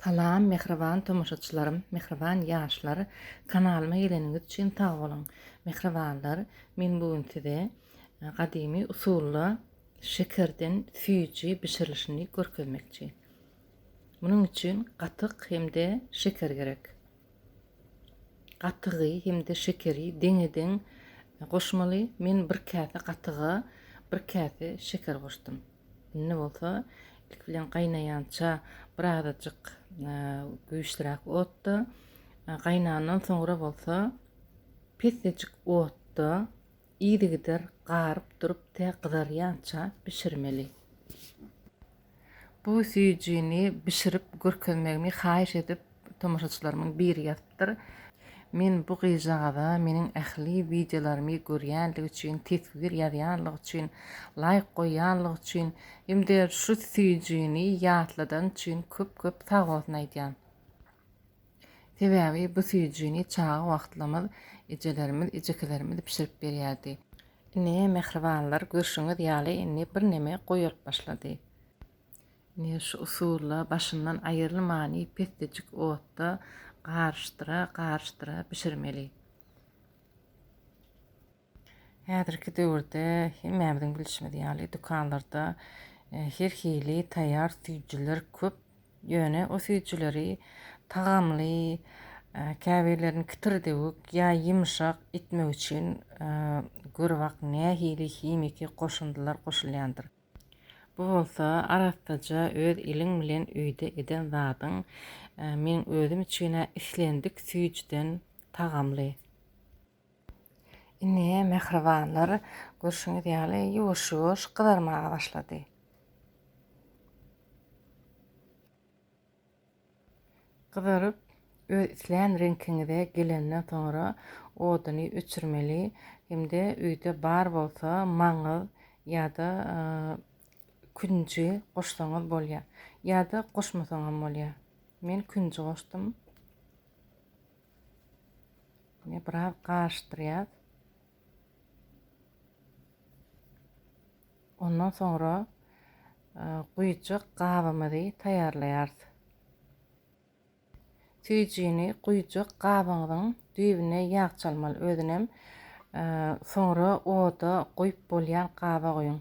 Salam mähriban tomaşaçylarym mähriban ýaşlar kanalyma geleniňiz üçin sag boluň mähribanlar men bu gün size gadymy usulda şekerden süýji bişirilişini görkezmekçi munuň üçin gatyk hem-de şeker gerek Gatygy hem-de şekeri deňe-deň goşmaly. Men bir käse gatyga bir käse şeker goşdum. Indi bolsa ilki bilen gaýnaýança birazajyk güýçliräk otda, gaýnandan soňra bolsa pessejik otda yzygider garyp durup tä gyzarýança bişirmeli. Bu süýjini bişirip görkezmegimi haýyş edip tomaşaçylarymyň biri ýazypdyr. Men bu gyzjagaza meniň ähli wideolarymy görýänligi üçin, teswir ýazýanlygy üçin, laýk goýýanlygy üçin hem-de şu süýjini ýatladany üçin köp-köp sagbolsun aýdýan. Sebäbi bu süýjini çaga wagtlarymyz ejelerimiz, ejekelerimiz bişirip berýärdi. Ine, mähribanlar, görşüňiz ýaly, indi birneme goýalyp başlady. Ine, şu usulda başyndan aýrylmany pesdejik otda garyşdyra, garyşdyra bişirmeli. Häzirki döwürde hemmämiziň bilşimiz ýaly, dükanlarda her hili taýýar süýjüler köp. Ýöne o süýjüleri tagamly, käbirlerini kitirdewük ýa ýumşak etmek üçin görübak nähili himiki goşundylar goşulýandyr. Bu bolsa arassaja öz eliň bilen öýde eden zadyň meň özüm üçin-ä islendik süýjüden tagamly. Indi mähribanlar görşüňiz ýaly ýuwaş-ýuwaş gyzarmaga başlady. Gyzaryp öz islän reňkiňize gelenden soňra oduny öçürmeli hem-de öýde bar bolsa maňyz ýa-da künji goşsaňyz bolýar. Ýa-da goşmasaňam bolýar. Men künji goşdum. Indi biraz garyşdyrýas. Ondan soňra e, guýjak gabymyzy taýýarlaýarys. Süýjini guýjak gabyňyzyň düýbüne ýag çalmaly. Özünem e, soňra oda goýup bolýan gaba goýuň.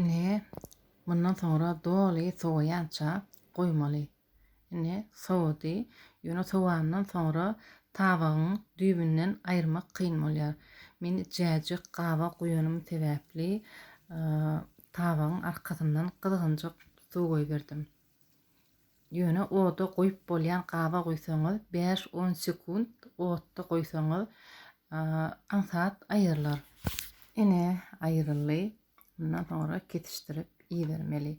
Ine, mundan soňra doly sowaýança goýmaly. Ine, sowady. Ýöne sowandan soňra tabagyň düýbünden aýyrmak kyn bolýar. Men itjäjik gaba guýanym sebäpli tabagyň arkasyndan gyzgynjak suw goýberdim. Ýöne oda goýup bolýan gaba guýsaňyz, bäş-on sekunt otda goýsaňyz aňsat aýrylar. Ine, aýryldy. Mundan soňra kesişdirip iýermeli.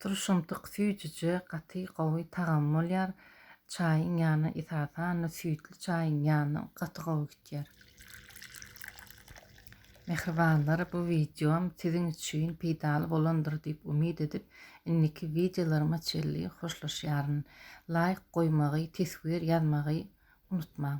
Turşumtyk süýjüje, gaty gowy tagamy bolýar. Çaýyň ýanyna esasan-da süýtli çaýyň ýanyna gaty gowy gidýär. Mähribanlar bu wideom siziň üçin peýdaly bolandyr diýip umyt edip indiki wideolaryma çenli hoşlaşýaryn. Laýk goýmagy, teswir ýazmagy unutmaň.